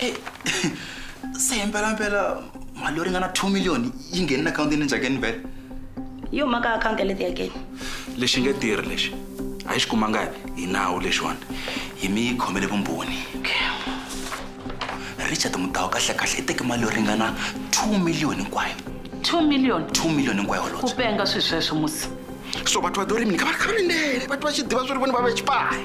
e se hi mpelampela mali yo ringana two million yi nghenini akhawuntini njhakeni vele yi huma ka akhawunti ya le tiyakeni lexi nge tirhi lexi a yi xi kumanga hi nawu lexiwani yi mi khomele vumbhoni richard mudawu kahlekahle i teke mali yo ringana two million hinkwayo two million two million hinkwayo holobye ku penga swi sweswo musi so batho va dorimi ni ka va ri khaminene batho va xi diva swi ri voni va ve xipayi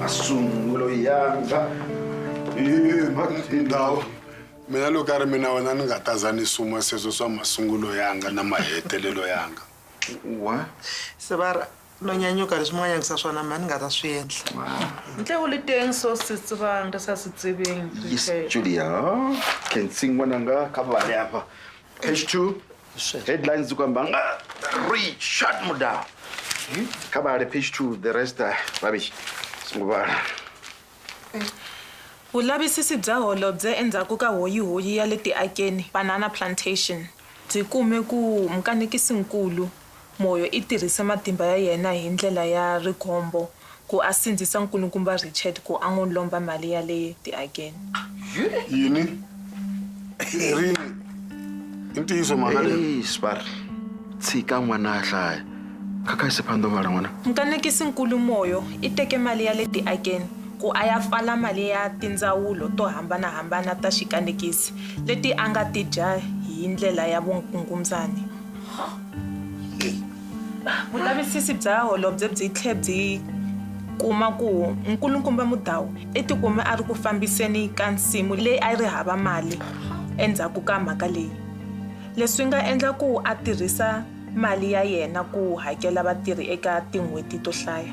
masungulo yanga ndhawu mina loko a ri mina wena ni nga taza ni suma sweswo swa masungulo yanga na mahetelelo yanga wa se va ri no nyanyuka leswi mi nga nyanyisa swona mhani ni nga ta swi endla ntle u le teng so se tsebang re sa se tsebeng yes julia ke ntsingwananga ka bale apa H2 headlines dzi khou amba nga Richard Mudau kha vhale page 2 the rest ah, rubbish songo vhala Vulavisisi bya holobye endzhaku ka hoyihoyi ya le Tiakeni, Banana Plantation, byi kume ku mukanekisi-nkulu, Moyo i tirhise matimba ya yena hi ndlela ya rigombo ku a sindzisa nkulukumba Richard ku a n'wi lomba mali ya le tiakeni. Yini? Erini, i ntiyiso mhaka leyi? Hey, Spar, tshika n'wana a hlaya. Khakhayisi phandovhala n'wana. Mukanekisi-nkulu Moyo i teke mali ya le tiakeni ku a ya pfala mali ya tindzawulo to hambana-hambana ta xikanekisi leti a nga ti dya hi ndlela ya vukungundzani. Vulavisisi bya holobye byi tlhe byi kuma ku nkulukumba Mudau i tikume a ri ku fambiseni ka nsimu leyi a yi ri hava mali endzhaku ka mhaka leyi leswi nga endla ku a tirhisa mali ya yena ku hakela vatirhi eka tin'hweti to hlaya.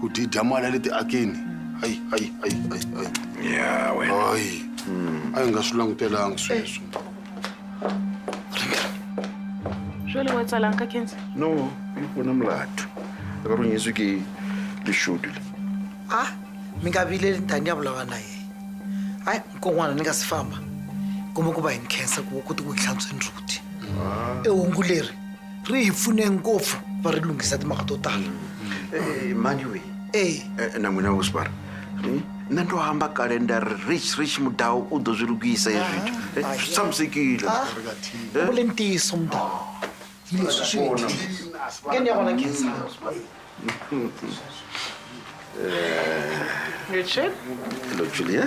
ku dyi dya mali ya le tiakeni hayi hayi hayi hayi hayi ya wena hayi a hi nga swi langutelanga sweswo jwale wa tsalanga ka kense no yi pfuna mulato a ka ronyiswi ke lixuti le a mi nga vileli tani ya vulavula na yena hayi nkon'wana ni nga si famba kumbe ku va hi ni khensa ku ku ti ku hi hlantsweni rhuti ehungu leri ri hi pfune ngopfu va ri lunghisa timhaka to tala eh, mhani wihi eh. eh, na n'wina wosbar hmm? na ndo hamba kale nda ri rich rich mudawu u do swi lukisa hi swithu ah, ah, swi tshamisekile ah, u le ntiyiso mudawu hi leswi swi ngeni ya vona khensa Richard? Hello, Julia.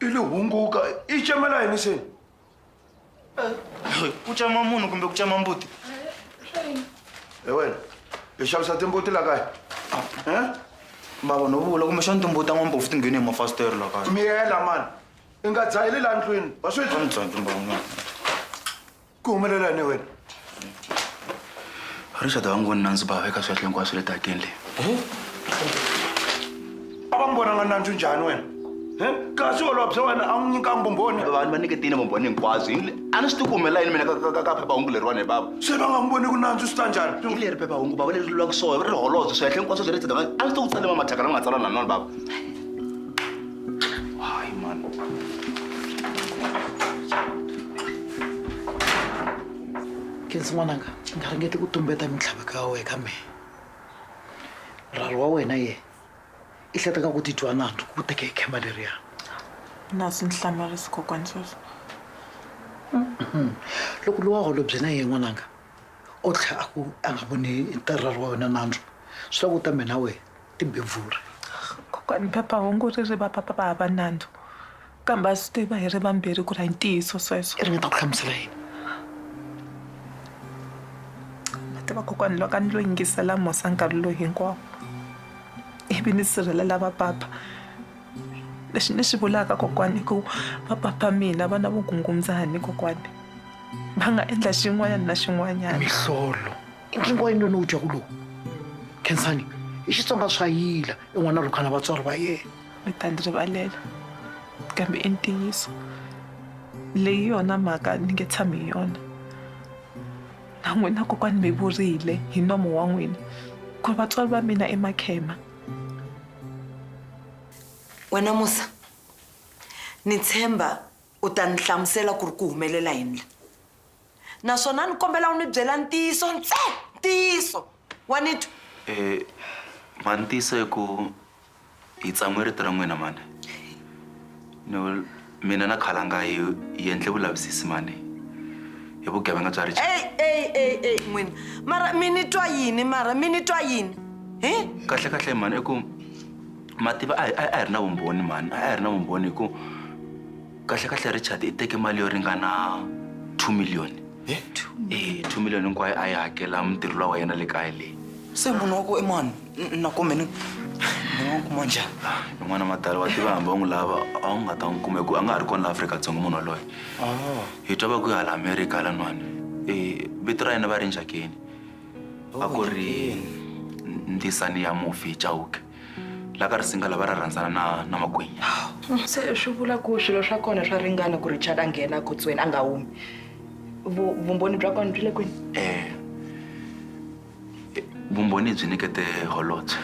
i lo hunguka i cemela yini se ku cama munhu kumbe ku cama mbuti e wena hi xavisa timbuti la kaya bava no vula kumbexani timbuti ta n'wambofu ti nghene hi mafasiteri la kaya miyela mani i nga dzaheli la ndlwini wa swi ku humelela yini wena richard va n'wi voni nandzu bava eka swiahle hinkwaswo swi le takeni leyi a va n'wi vonanga nandzu njhani wena kasi olova bya wena a n'wi nyika mbumboni vanhu va nyiketile mbumboni hinkwaswo a ni swi ti ku humelela yini mina ka phephahungu leriwani hi bava se va nga n'wi voni ku nandzu swi ta njhani hi leri phephahungu bava leri lulaka swona ri holobye swiahle hinkwaswo bya le tsetanga a ni swi ti ku tsale mamathaka lama nga tsalana na nona bava kensi n'wananga nga ringeti ku tumbeta mintlhava ka we ka mehe rhari wa wena ye i hletaka ku titwa nandzu ku teke hi khema leriya na swi ndzi hlamarisi kokwani sweswo mm-hmm. loko lowa holobye na ye n'wananga o tlhe a ku a nga voni rhari wa wena nandzu swi ta ku ta mina wena timbevuri. Kokwani phepha-hungu ri ri va papa va hava nandzu, kambe ha swi tiva hi ri vambirhi ku ri a hi ntiyiso sweswo. Ri nga ta ku hlamusela yini? Ma tiva kokwani loko a ni lo yingisela Musa nkarhi lowu hinkwawo ivi ni sirhelela va papa, lexi ni xi vulaka kokwani i ku va papa mina va na vugungundzani kokwani, va nga endla xin'wanyana na xin'wanyana. Mihlolo. i ntlingo wa yini lowu ni wu dyaku lowu khensani i xitsonga swa yila i n'wana rhukhana vatswari va yena mi ta ndzi rivalela kambe i ntiyiso leyi yona mhaka ni nge tshami hi yona na n'wina kokwani mi vurile hi nomo wa n'wina ku ri vatswari va mina i makhema wena musa ni tshemba u ta ni hlamusela ku ri ku humelela yini la naswona ni kombela u ni byela ntiyiso ntsena ntiyiso wa ni twa um mhani ntiyiso i ku hi tsan'we rito ra n'wina mhani ni mina na khalanga hi hi endle vulavisisi mhani hi vugevenga bya rich eyi eyi eyi eyi n'wina mara mi ni twa yini mara mi ni twa yini hi kahlekahle mhani i ku mativa a hi a hi ri na vumbhoni mhani a hi ri na vumbhoni hi ku kahlekahle richard i teke mali yo ringana two million eh two million hinkwayo a yi hakela mutirhi lowa wa yena le kaya leyi se munhu wa ku emani na kumbe ni ni nga n'wi kuma njhani n'wana matala wa tiva hambi va n'wi lava a wu nga ta n'wi kuma hi ku a nga ha ri kona la afrika-dzonga munhu waloye hi twa va ku hala amerika lan'wana um vito ra yena va ri njhakeni a ku ri ndzisani ya mufi chauke la ka risinga lava ra rhandzana na na magwinya se swi vula ku swilo swa kona swa ringana ku richard a nghena kotsweni a nga humi Vu- vumbhoni bya kona byi le kwini um vumbhoni byi nyikete holobye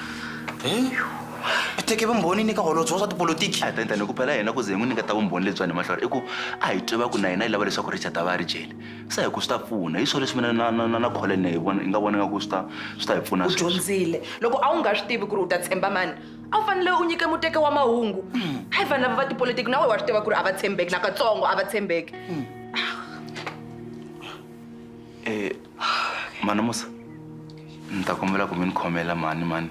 u teke vumbhoni ni ka holobye wa swa tipolotiki a tani tani ku phela yena ku ze hi n'wi nyiketa vumbhoni lebyiwani mahlori i ku a hi tiva ku na yena yi lava leswaku richard a va a ri jele se hi ku swi ta pfuna hi swona leswi mina na na na na kholene hi vona hi nga vona nga ku swi ta swi ta hi pfuna u dyondzile loko a wu nga swi tivi ku ri u ta tshemba mani a wu fanele u nyike muteke wa mahungu hayi vanhu lava va tipolitiki na wehe wa swi tiva ku ri a va tshembeki nakatsongo a va tshembeki um mana musa ni ta kombela ku mi ni khomela mhani mani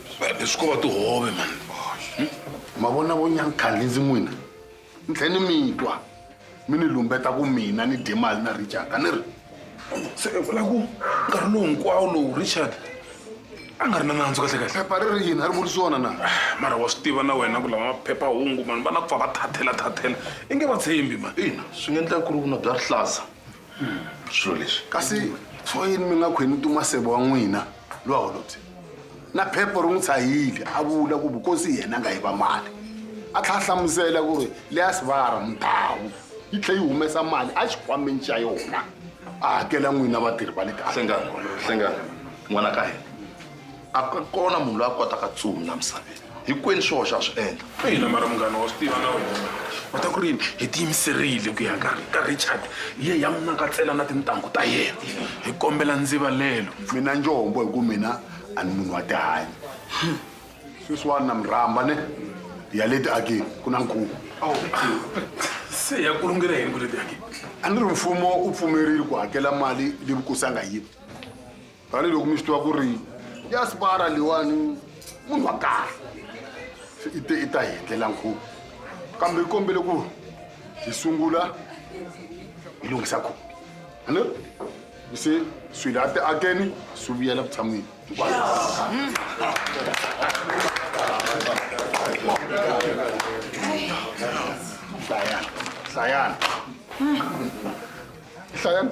leswi ko va tihove mani hmm? ma vona vo nyankhandli ndzi n'wina ni tlhe ni mi twa mi ni lumbeta ku mina ni dye mali na richard a ni ri se i vula ku nkarhi lowu hinkwawo lowu richard a nga ri na nandzu kahle kahle phepha ri ri yini a ri vurisi wona na mara wa swi tiva na wena ku lava maphephahungu mani va na ku pfa va thathela thathela i nge va tshembi mani ina swi nga endleka ku ri vuna bya rihlaza swilo leswi kasi swo yini mi nga khweni tumasebo wa n'wina lowa holobye na phepho ri n'wi tshahile a vula ku vukosi hi yena nga yi va mali a tlha a hlamusela ku ri leya sivara mundhawu yi tlhe yi humesa mali a xikhwameni xa yona a hakela n'wina vatirhi va le kahlengana n'wana ka hina A ku kona munhu loyi a kotaka ntsumi la misaveni. Hinkwenu swihoxo ha swi endla. Ina, mara munghana wa swi tiva na wena u ta ku ri yini hi tiyimiserile ku ya ka ka Richard hi ya hi ya n'wi nakatsela na tintangu ta yena hi kombela ndzivalelo. Mina njombo hi ku mina a ni munhu wa tihanyi. Sweswiwani na mi rhamba ne ya le tiakeni ku na nkhuvo. Se ya ku lungela yini ku le tiakeni? A ni ri mfumo u pfumerile ku hakela mali leyi vukosi a nga yi. tanihiloko mi swi tiva ku ri diaspora leyiwani munhu wa kahle se i te i ta hi endlela nkhuvo kambe i kombele ku hi sungula hi lunghisa khuvo ane se swilo a ti akeni swi vuyela vutshan'wini hlayana hlayana hlayana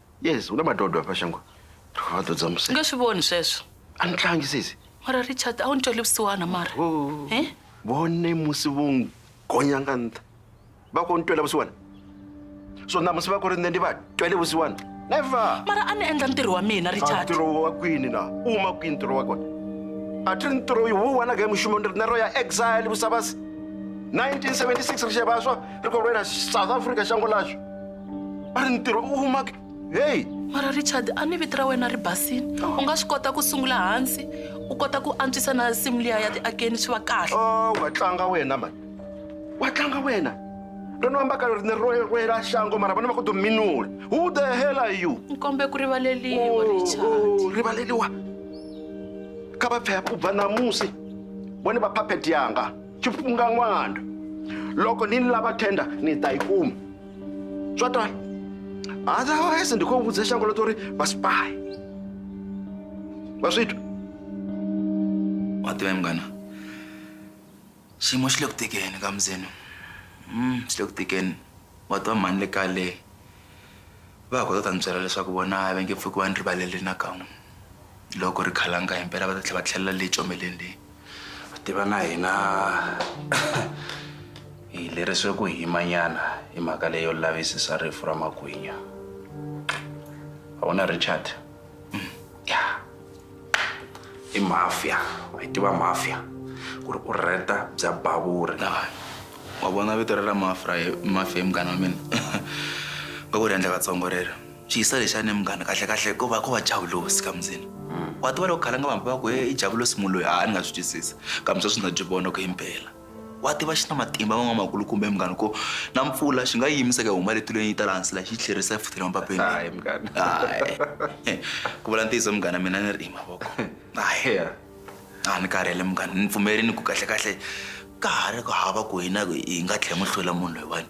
yes u na madodwa apa shango ri va dodza ni nge swi voni sweswo a ni tlangi sesi mara richard a wu ni tweli vusiwana mara oh. eh? vone musi vo n'wi gonyanga ntha va ko ni twela vusiwana so na musi va ku ri nne ni va twele vusiwana never mara a ni endla ntirho wa mina richard ntirho wa kwini na u ma kwini ntirho wa kona a ti ri ntirho yi wu wanaka hi muxumo ni ri na ro ya exile vusavasi 1976 ri xevaswa ri korwena south africa xango laxo a ri ntirho u humake heyi mara richard a ni vito ra wena ri basile u nga swi kota ku sungula hansi u kota ku antswisa na nsimu liya ya tiakeni swi va kahle o wa tlanga wena mani wa tlanga wena ri no ambaka ri ni roerwela xango mara vana va ku dominula who the hell are you nkombe ku rivaleliwa richard rivaleliwa ka va phaya pubva namusi vone va phaphet yanga xipfunga n'wana loko ni ni lava tender ni ta yi kuma Tswatwana. Otherwise ndiko vudza shango lo tori va spy. Va switwa. Wa tiva mngana. Xiyimo xi le ku tikeni ka Mzeno. Mm, xi le ku tikeni. Wa tiva mhani le kaya leyi. Va ha kota ku ta ni byela leswaku vona a va nge pfuki va ni rivalele nakan'we. Loko ri khalanga himpela va ta tlhela va tlhelela le comeleni leyi. tiva na hina hi leriswe ku himanyana hi mhaka leyo lavisisa rifu ra magwinya a wu na richard ya i mafia wa yi tiva mafia ku ri u rheta bya bavuri wa vona vito ra ra mafra mafia hi munghana wa mina va ku ri endla katsongo rero Swi hisa lexi ane munghana kahlekahle ko va ko va javulosi ka mundzeni wa tiva loko khalanga vanhu va ku he i javulosi munhu loyi a ni nga swi twisisi kambe sweswi ndza byi vona ku himpela wa tiva xi na matimba van'wamakulu kumbe munghana ko na mpfula xi nga yi yimisa ku ya huma le tilweni yi ta laha hansi la xi yi tlherisa yi futhela mapapeni hayi munghana hayi ku vula ntiyiso munghana mina ni ri i mavoko hayi a ni karhele munghana ni pfumerini ku kahlekahle ka ha ri ku hava ku hina hi nga tlhe mu hlula munhu loyiwani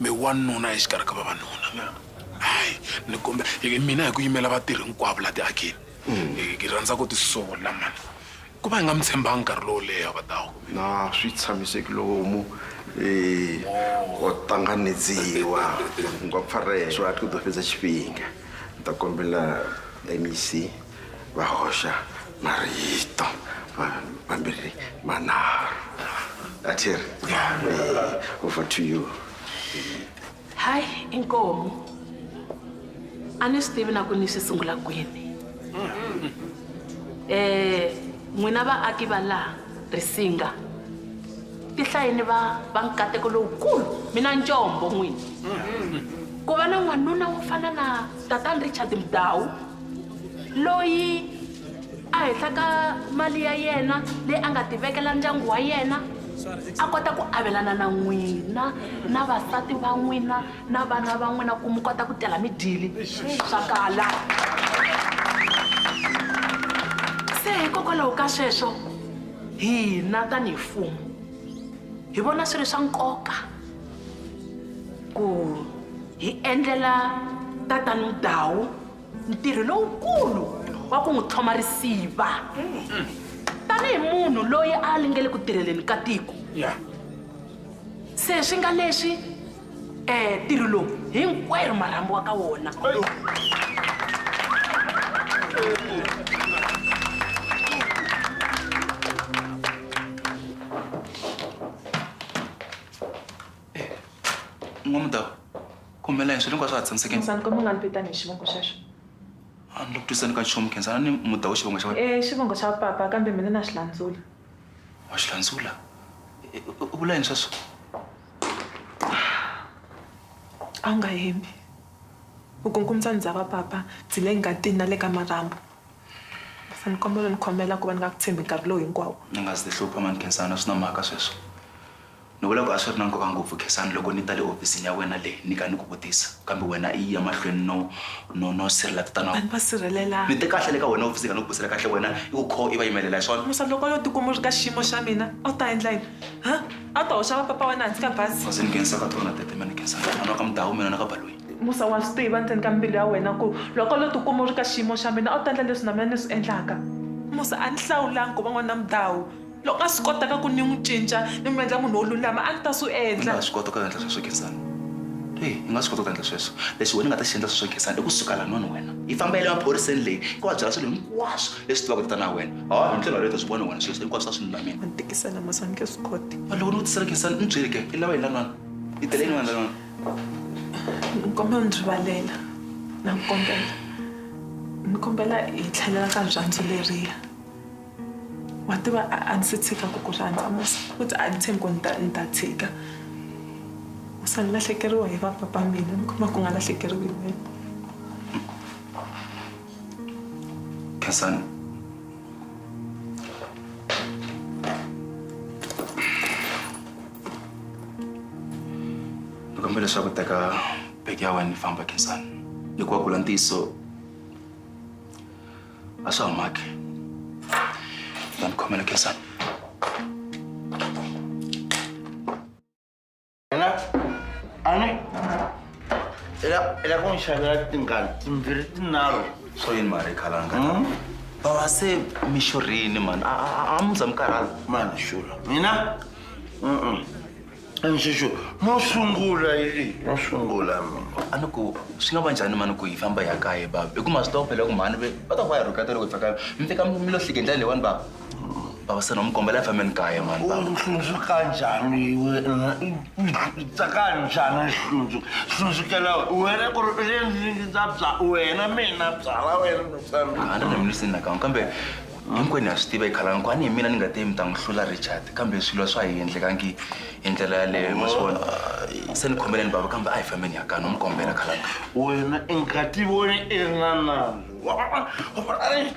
Mi wanuna exikarhi ka vavanuna. Hayi, ni kombe, hi mina hi ku yimela vatirhi hinkwavo laha tiakini. Hi hi rhandza ku ti sola mhani. Ku va hi nga mi tshembanga nkarhi lowo leha va ta ku. Na swi tshamiseki lomu ko tanganedziwa ngopfarheswo a ti ku do feza xiphinga. Ni ta kombela MEC. va hoxa marito mambirhi manharhu atir over to you hayi inkomi a ni swi tivi na ku ni swi sungula kwini um n'wina vaaki va laha risinga tihlayini va va nkateko lowukulu mina ncombo n'wini ku va na n'wanuna wo fana na tatani richard mdawu loyi a henhla ka mali ya yena leyi a nga tivekela ndyangu wa yena a kota ku avelana na n'wina na vasati va n'wina na vana va n'wina ku mi kota ku tela midyili swa kala se hikokwalaho ka sweswo hina tanihi mfumo hi vona swi ri swa nkoka ku hi endlela tatani Mdawu ntirho lowukulu wa ku n'wi tlhoma risiva tanihi munhu loyi a a lingele ku tirheleni ka tiko se swi nga leswi um ntirho lowu hinkwerhu marhambu wa ka wona n'wamudava khomela yini swilo hinkwaswo ha tshamiseke Khensani kombela u nga ni vitani hi xivongo xexo a ni lo ku twisani ka nchumu khensana ni mudava xivongo xa wena e xivongo xa papa kambe mina na xi landzula wa xi landzula E, u u vula yini sweswo a wu nga hembi u kunkumisa ndzi dza va papa ndzi le ngatini na le ka marhambu Ni kombela u ni khomela ku va ni nga ku tshembi nkarhi lowu hinkwawo. Ni nga si ti hlupha mhani Khensani a swi na mhaka sweswo. Ni vula ku a swi ri na nkoka ngopfu Khensani loko ni ta le hofisini ya wena le ni ka ni ku vutisa kambe wena i ya mahlweni no no no sirhelela tatana wa. A ni va sirhelelanga. Ni te kahle le ka wena hofisini ni nga ni ku busela kahle wena i ku kho i va yimelela hi swona? Musa loko a yo ti kuma u ri ka xiyimo xa mina a wu ta endla yini ha? A wu ta hoxa va papa wa wena hansi ka bazi? Bazi ni nghenisa ka tona tete mhani Khensani a ni wa ka Mdawu mina na ka Baloyi. Musa, wa swi tiva endzeni ka mbilu ya wena ku loko lo tikuma u ri ka xiyimo xa mina a wu ta endla leswi na mina ni swi endlaka. Musa, a ni hlawulanga ku va n'wana mudhawu. Loko a swi kotaka ku ni n'wi cinca ni n'wi endla munhu wo lulama a ni ta swi endla. Ni nga ha swi kota ku endla sweswo Gezani? Eya, ni nga swi kota ku endla sweswo. Lexi wena u nga ta xi endla sweswo Gezani i ku suka lan'wani wena i famba i ya le maphoriseni le i va byela swilo hinkwaswo leswi tivaka hi tatana wa wena. Ha, hi ndlela yaleyo u ta swi vona wena sweswo hinkwaswo a swi lulamile. Wa ni tikisela Musa, a ni nge swi koti. Loko ni ku tisela Gezani ni byeli ke i lava yini lan'wana? I tele yini wena lan'wana? ni kombela u ni rivalela na ku kombela ni kombela hi tlhelela ka rirhandzu leriya wa tiva a a ni se tshika ku ku rhandza musi futhi a ni tshembi ku ni ta ni ta tshika u se ni lahlekeriwa hi va papa mina ni kuma ku nga lahlekeriwi hi wena Khensani ni kombela leswaku teka bege ya wena ni famba khensani hikuva ku la ntiyiso a swa ha maki na ni khomela khensani Ela, ano, ela, ela ku n'wi xavela tingani timbirhi tinharhu. Swo yini mali khalanga? Hmm? Bava se mi xurhini mani, a a a mi za mi karhala. Mani xula, mina? Mm-mm. Nxixo, no sungula yili, no sungula mina. A ni ku swi nga va njhani mani ku hi famba hi ya kaya bava? Hi ku ma swi tiva ku phela ku mhani ve va ta ku va hi rhuketa loko hi fika kaya. Mi fika mi mi lo hlike hi ndlela leyiwani bava? baba se nomkombela efameni kaya mani baba uhlunzu kanjani wena tsaka njhani hlunzu hlunzukela wena ku ri le ndlwini ndza bya wena mina byala wena nofambi a ni ri mlisini nakan'we kambe hinkwenu ha swi tiva yi khalani ku a ni hi mina ni nga te mi ta n'wi hlula richard kambe swilo swa hi endlekangi hi ndlela yaleyo ma swi vona se ni khomeleni bava kambe a hi fambeni ya kani u mi kombela khalani wena i nga ti voni i ri na nandzu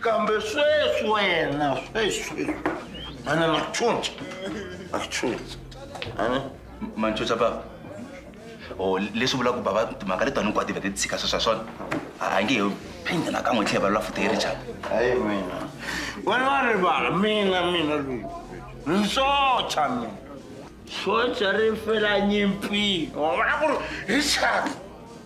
Kambe sweswi wena sweswi a na makuchuncha makuchuncha ani manchucha bava o leswi vulaka ku bava timhaka leti vanhu kwati va ti tshika sweswa swona a a nge he phindi nakan'we tlhela va lula futhi hi richard hayi mina wena wa rivala mina mina loyi nsocha mina socha ri fela nyimpini wa vona ku ri richard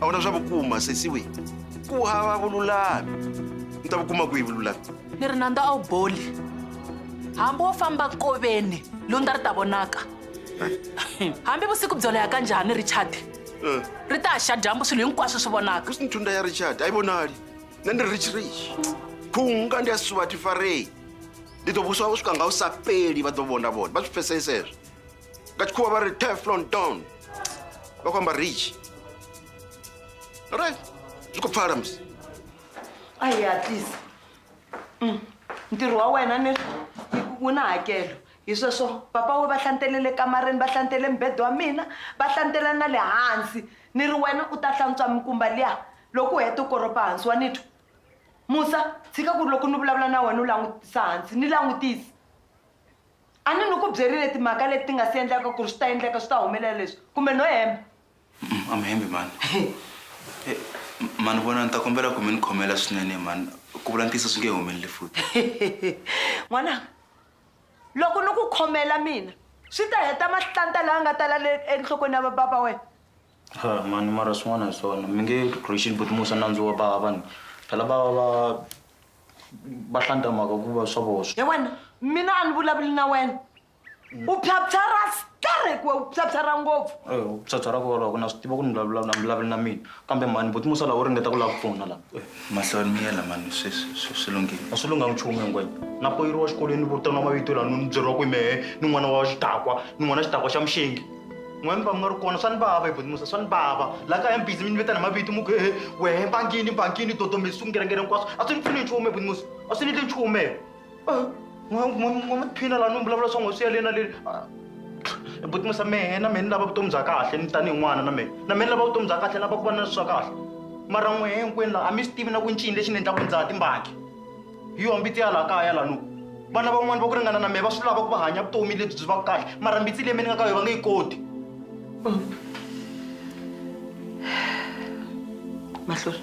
a wu na swa vukuma sesiwi ku hava vululami ni ta vukuma kwihi vululami ni ri nandza a wu boli hambi wo famba koveni lundza ri ta vonaka hambi vusiku byo leha ka njhani richard eh. ri ta xa dyambu swilo hinkwaswo swi vonaka swi nthunda ya richard a yi vonali na ni ri rich rich khunga ndi ya suva tifarei ndi to vuswa swi ka nga wu sapeli va to vona vona va swi pfeseseswo ka chikhuva va ri teflon don va ku amba rich right swi ku pfala mis ayi hatlisa mm. ntirho wa wena ni wu na hakelo hi sweswo papa we va hlantele le kamareni va hlantele mbedo wa mina va hlantela na le hansi ni ri wena u ta hlantswa mikumba liya loko u heta u koropa hansi wa nitwa musa tshika ku ri loko ni vulavula na wena u langutisa hansi ni langutisa A ni ni ku byerile timhaka leti ti nga si endleka ku ri swi ta endleka swi ta humelela leswi kumbe no hemba? A mi hembi mhani. He mhani vona ni ta kombela ku mi ni khomela swinene mhani ku vula ntiyiso swi nge humeleli futhi. N'wananga loko ni ku khomela mina swi ta heta mahlanta laya nga tala le enhlokweni ya va bava wena? Ha mani mara swin'wana hi swona mi nge Rachel buti musa nandzu wa bava vanhu phela va va va va hlanta mhaka ku va swa voswa ya wena mina a ni vulavuli na wena u phyaphyarha skarhi ku we u phyaphyarha ngopfu Eh, u phyaphyarha ku valoko na swi tiva ku ni vulavula a mi vulavuli na mina kambe mani buti musa laha u ringeta ku lava ku pfuna laha mahlawuri mi yela mani swi swi- swi- swi lunghile a swi lunghanga nchumu hinkwenu na poyiriwa xikolweni ni vitaniwa mavito laha ni byeriwa ku hi mehe ni n'wana wa xidakwa ni n'wana xidakwa xa muxengi n'wina va mi nga ri kona swa ni vava hi bodimusa swa ni vava la kaya mi bizi mi ni vitana mavito mu ku hehe wehe mbangini mbangini dodomesi swingerengere hinkwaswo a swi ni pfuni nchumu hi bodimusa a swi ni endli nchumu he n'wa maphina laha ni mi vulavula swa n'we swi ya le na le hi bodimusa mehe na mehe ni lava vutomi bya kahle ni tanihi n'wana na mehe na mehe ni lava vutomi bya kahle ni lava ku va na swa kahle mara n'wehe hinkwenu laha a mi swi tivi na ku ncini lexi ni endlaku ndza timbangi hi yona mbitsi ya laha kaya lanu vana van'wana va ku ringana na mehe va swi lava ku va hanya vutomi lebyi byi va kahle mara mbitsi leyi mi ni nga ka yo va nge yi koti mahlori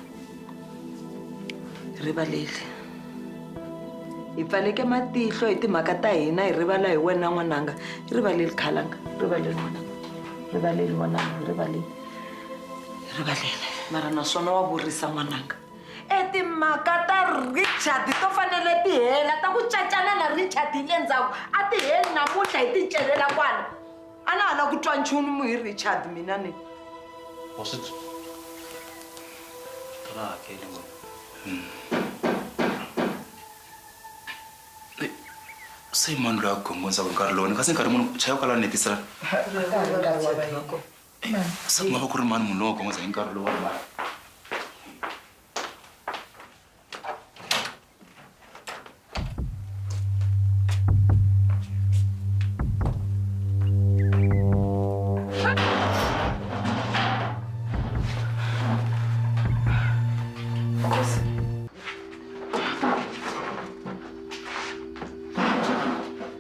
rivaleli hi pfaleke matihlo hi timhaka ta hina hi rivala hi wena n'wananga rivaleli khalanga rivaleli n'wananga rivaleli n'wananga rivaleli rivaleli mara naswona wa vurisa n'wananga e timhaka ta richard to fanele ti hela ta ku cacana na richard hi le ndzhaku a ti heli namuntlha hi ti celela kwala a na ha la ku twa nchumu hi richard mina ni ra hakeli wena se mani loyi a gongondzaka nkarhi lowu ni kasi nkarhi munhu chaya kwala ni hetisela se ku nga va ku ri mani muloko ngoza hi nkarhi lowu wa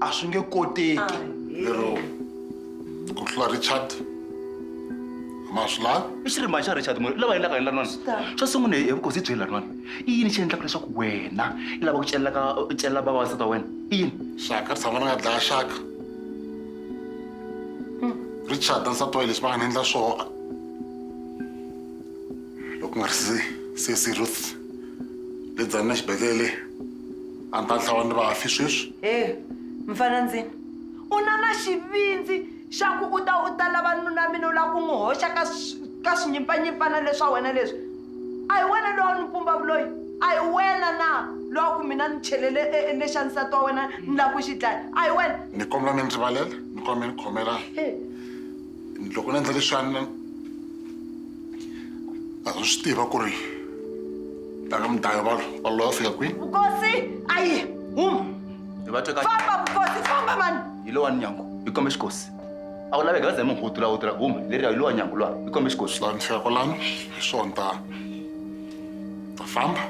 a swi nge koteki lero ku tlula richard ma swi lavi i xirimba xa richard moyo lava endlaka hi lanwana xo sungula hi vukosi byi lanwana i yini xi endlaka leswaku wena i lava ku celaka u celela vavasati wa wena i yini xaka tshama ni nga dlaya xaka richard na nsati wa leswi va nga ni endla swona loko nga ri se se ruth le dzani na xibedhlele a ni ta dlawa ni vafi sweswi he mfana ndzini u na na xivindzi xa ku u ta u ta lava nuna mina u lava ku n'wi hoxa ka ka swinyimpfanyimpfana leswa wena leswi a hi wena lowa ni pumba vuloyi a hi wena na lowa ku mina ni chelele e, e, lexa nsati wa wena ni lava ku xi dlaya a hi wena ni kombela mi ndzi rivalela ni kombela mi ni khomela loko ni endla leswiani a ri swi tiva ku ri taka mudaya va va loyi a fika kwini vukosi ayi huma famba vukosi famba mani hi lowa ni nyangu hi kombe xikosi a wu laveka ze muhutu lawu tirha huma leriya hi lowa nyangu lwana hi kombe xikosi lani fika kwalano hi swona ta ta famba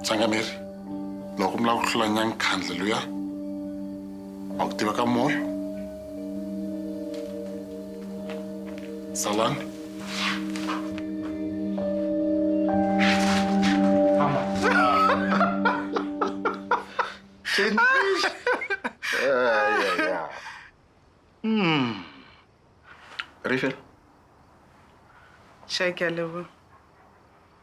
sangameri loko mi lava ku hlula nyankhandle luya wa ku tiva ka moya salani Rifel. Check your level.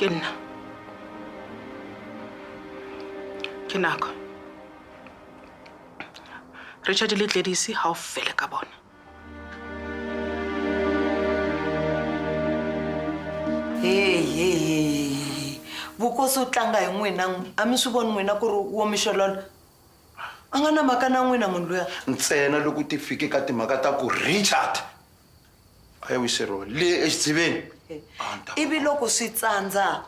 ke nna ke nako richard le tledisi ga o fele ka bona hehehe vukosi u tlanga hi n'wina a mi swi voni n'wina ku ri wo mixolola a nga na mhaka na n'wina munhu luya ntsena loko ti fike ka timhaka ta ku richard a ya wiseriwa le exidziveni ivi loko swi tsandza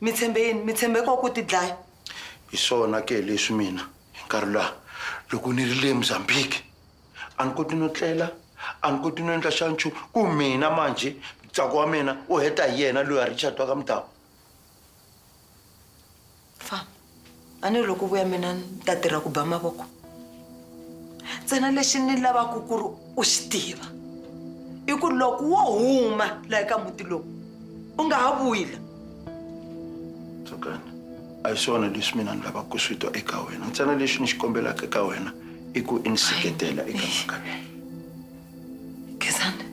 mi tshembe yini mi tshembe ko ku ti dlaya hi swona ke leswi mina hi nkarhi laha loko ni ri le mozambique a ni koti no tlela a ni koti no endla xa nchumu ku mina manjhe mutsako wa mina u heta hi yena loyi a richard wa ka mudhawu famba a ni ri loko vuya mina ni ta tirha ku ba mavoko ntsena lexi ni lavaka ku ri u xi tiva i ku loko wo huma laha ka muti lowu u nga ha vuyi la tsukani a hi swona leswi mina ni lavaka ku swi twa eka wena ntsena lexi ni xi kombelaka eka wena i ku i ni seketela eka mhaka leyi gezani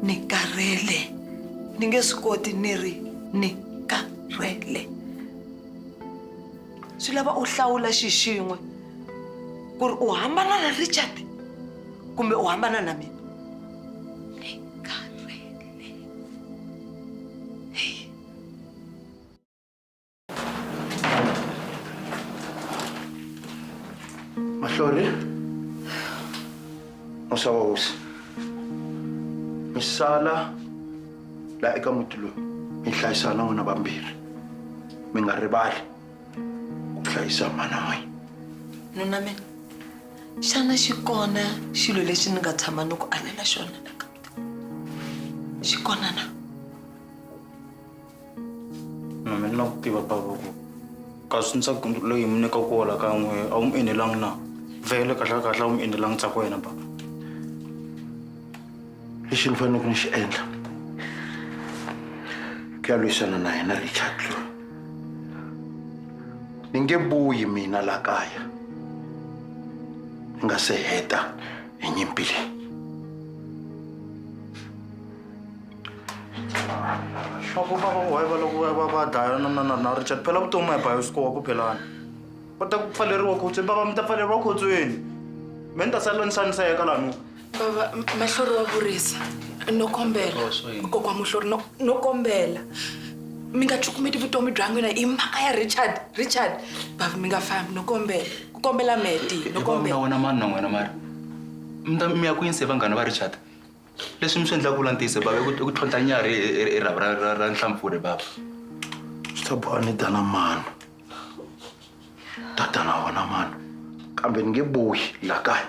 ni karhele ni nge swi koti ni ri ni karhele swi lava u hlawula xi xin'we ku ri u hambana na richard kumbe u hambana na mina Mahlori muxava hosi mi sala la eka muti lowu mi hlayisana n'wina vambirhi mi nga rivali ku hlayisa mana n'wina nuna mina xana xi kona xilo lexi ni nga tshama ni ku alela xona xi kona na mina ni la ku tiva bava ku kasi ntsako loyi mi nyika ku wola ka n'we a wu mi enelangi na vele kahlekahle a wu mi enelangi ntsako wa yena bava lexi ni faneleke ni xi endla ku ya lwisana na yena richard loyi ni nge vuyi mina la kaya ni nga se heta ẹ̀yin bèrè. Aku baba why va loko va va dlaya na na na na Richard phela vutomi a hi bayosikowa ku phelana va ta pfaleriwa khotsweni baba mi ta pfaleriwa khotsweni me ni ta sala ni xaniseka laha nu baba mahlori wa vurisa no kombela kokwa muhlori no no kombela mi nga cukumeti vutomi bya n'wina hi mhaka ya richard richard bava mi nga fambi no kombela ku kombela meti no na kombela wena mani na n'wina mara mi ta mi ya kwini se vanghana va richard leswi mi swi endlaka vula ntiyiso bava i ku- i ku tlhontlha nyarhi hi- hi hi rhavi ra- ra- ra nhlampfurhe bava swi ta boha ni dana mano tatana wona mano kambe ni nge bohi la kaya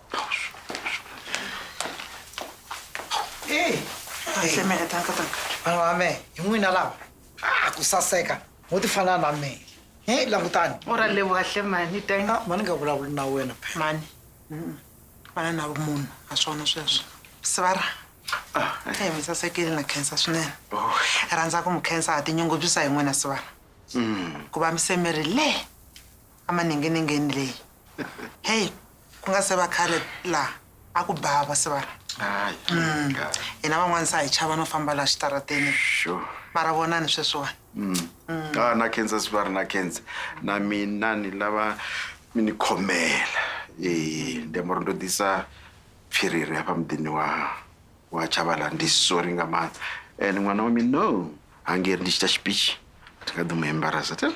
Hey, Seme re taka taka. vana va me hi n'wina lava a ku saseka mo ti fana na me he langutani U ra leboha hle mani thank you. mani nga vulavuli na wena phela Mani. Vana na vumunhu a swona sweswo. Sivara. Eh, mi sasekile na khensa swinene. Hi rhandza ku mi khensa ha tinyungubyisa hi n'wina Sivara. Ku va mi semerile le emaninginingini leyi. Hey, ku nga se va khale laha a ku ba va sivana Hayi. Mm. ka- hina van'wana sa hi chava no famba laha xitarateni Sure. mara vonani sweswiwani Mm. Ka na cancer swi va ri na cancer. Na mina ni lava mi ni khomela. Eh, ndi amoro ndo disa phiriri hapa mudini wa wa Chavala ndi sorry nga ma. Eh, n'wana wa mina no. Hangeri ndi chita speech. Ndinga ḓo mu embarasa. Tell.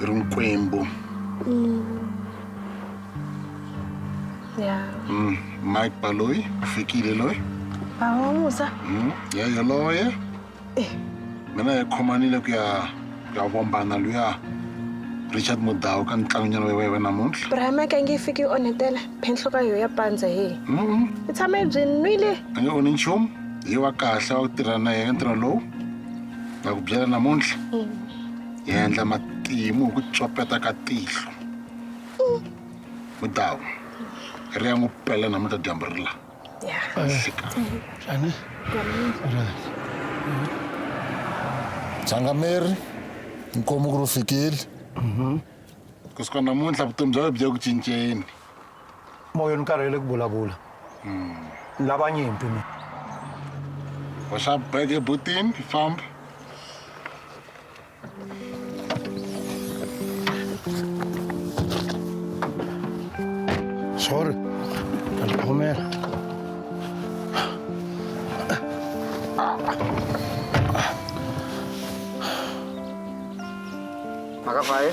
i ri nkwembu ya mm. mike baloyi u fikile loyi bava musa mm. ya yoloye eh. mina hi khomanile ku ya ku ya vombana luya richard mudawu ka ntlangonyana wa wena namuntlha brahamaka nge fiki yi onhetela phenhlo ka yoho ya pandza he i tshama yi byi nwile a nge onhi nchumu hi wa kahle wa ku tirha na yena ntirho lowu na ku byela namuntlha mm. hi endla matimu hi ku tsopeta ka tihlo mudawu ri ya n'wi pela namuntlha dyambu ri la Shani. changameri nkomu ku ri u fikile kusuka namuntlha vutomi bya wena byi ya ku cinceni moya ni karhele ku vulavula ni lava nyimpi mi hoxa beke butini famba sorry alikhomela makavaye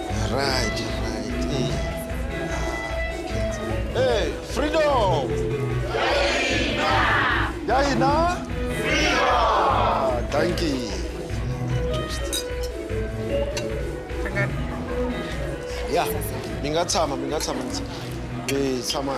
Right, right. Hey. Hey, freedom! Yahina! Freedom! Thank you. Yeah, mi nga tshama, mi nga tshama. Eh, tshama.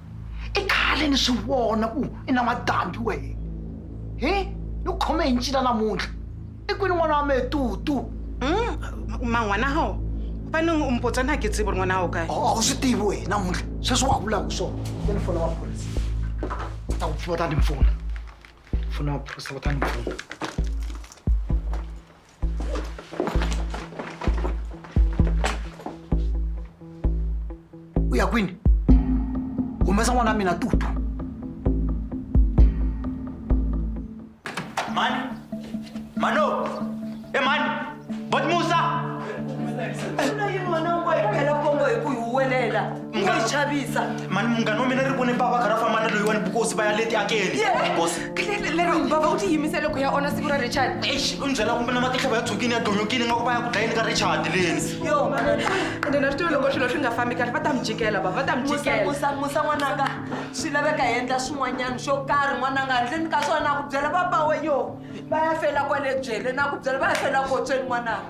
i khale ni swi vona ku i na madambi wehe hi ni ku khome hi ncila namuntlha i kwini n'wana wa mehe tutu man'wana ho va ni u mpotsa na ke tsivi ri n'wana wo kae a wu swi tivi wehe namuntlha sweswi wa vulaka hi swona ya ni fona maphorisa va ta ku pfuna va ta ni pfuna fona maphorisa va ta ni pfuna u ya kwini humesa n'wana wa mina tutu mani mano e mani bot musa Sula yini n'wana wa n'wana phela kombo hi ku hi huwelela Munghana- chavisa mani munghana wa mina ri vone bava kha ra famba na loyiwani bukosi va ya leti akeni Bukosi. lero bava u ti yimisele ku ya ona siku ra richard eish u ni byela kumbe na matihlo va ya tshukini ya donyokini nga ku va ya ku dlayeni ka richard leni yo ende na swi tiva loko swilo swi nga fambi kahle va ta mi jikela bava va ta mi musa jikela musa musa n'wananga swi laveka hi endla swin'wanyana xo karhi n'wananga handleni ka swona na ku byela papa wa yo va ya fela kwale byele na ku byela va ya fela kotsweni n'wananga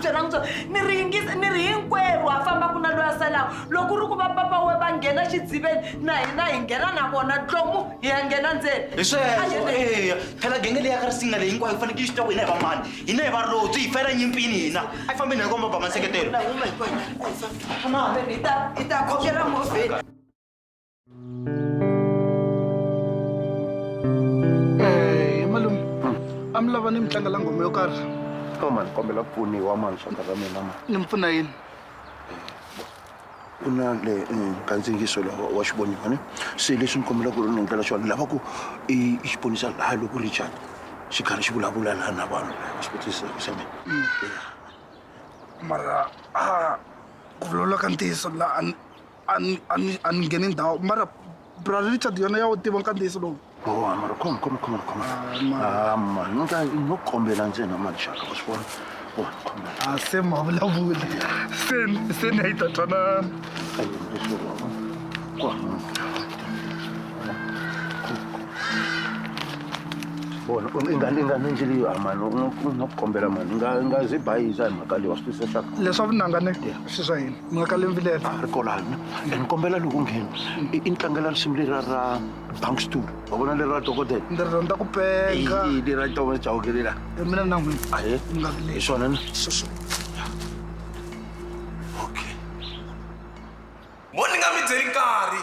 byela n'wi byona ni ri yingisa ni ri hinkwerhu ha fambaka na loyi a salaka loko u ri ku va papa we va nghena xidziveni na hina hi nghena na vona tlomu hi ya nghena ndzeni hi sweswo eya phela genge leyi ya ka risinga leyi hinkwayo yi fanekele yi swi tiva ku hina hi va mani hina hi varobyi hi fela nyimpini hina a yi fambeni hi komba ba maseketelo i ta i ta khokela movheni Eh, malume a mi lava ni mi tlangela nghoma yo karhi o mani kombela ku pfuniwa mani swaka ra mina mani ni mi pfuna yini ku na le eh, kandziyisiso lowa wa xivoniwa ne se leswi ni kombela ku ri ni endlela xona ni lava ku i i xi ponisa laha loko richard xi karhi xi vulavula laha na vanhu xi kotisa ku xana mara a ku vulavula ka ntiyiso la a ni- ani ngheni ndhawu mara brother richard yona ya wu tiva nkandziyiso lowu boha mara khoma khoma khoma khoma ah, ah, mani no ka no kombela ntsena mani xaka u swi vona boha khoma a ah, se ma vulavula se se ni yi ta twanana bona ingane ingane nje leyo mani no kombela mani nga nga zibayiza hi mhaka leyi wa swi twisisa leswaku leswa vunangane swi swa yini mi nga ka lemvilela a ri kolana and kombela loko nghena i ni tlangela risimu lera ra bank stool wa vona lera dokodela ndzi rhandza ku penga lera tova jaokelela mina na n'wina a hi nga ri hi swona na okay mo ni nga mi byeli nkarhi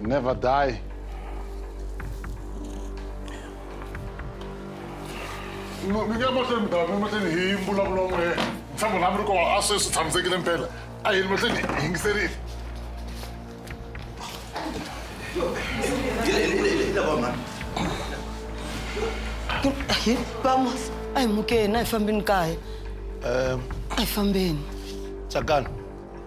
Never die. mi nge mahlweni mudava mi mahlweni hi mbulavulo n'we ntshamo lami ri kowa a sweswi tshamisekile mpela a yini mahlweni hi yingiserile hi vamos a hi mukeni a hi fambeni kaya a hi fambeni tsakani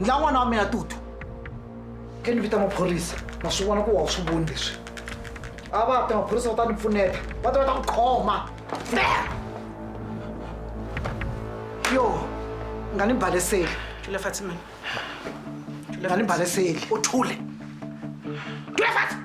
ndla n'wana wa mina tutu ke ni vita maphorisa na swi vona ku wa swi voni leswi a va ta maphorisa va ta ni pfuneta va ta va ta ku khoma yo nga ni baleseli tule fatima nga ni baleseli u thule tule fatima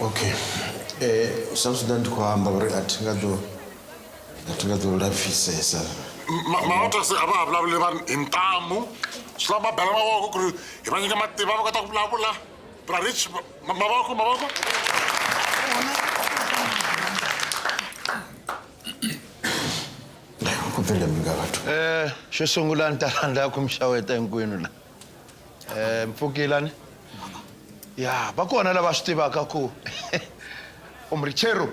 okay eh sa zwi ḓa ndi khou amba uri a thi nga ḓo a thi nga ḓo lapfisesa maotasi a va ha vulavuli vanhu hi ntamu swi lava va bela mavoko ku ri hi va nyika matimba va kota ku vulavula brarich mavoko mavoko ku pfile mi nga vathu um xo sungula ni ta rhandza ku mi xaweta hinkwenu la Eh, Mpfukilani. Ya, va kona lava swi tivaka ku umrichero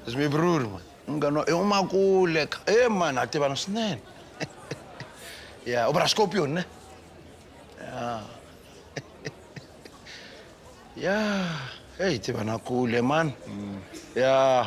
zimibruri man. Munghana wa u makule ka. Eh man, ha tivana swinene. Ya, u vula Scorpion ne? Ya. Ya, hey tivana kule man. Ya.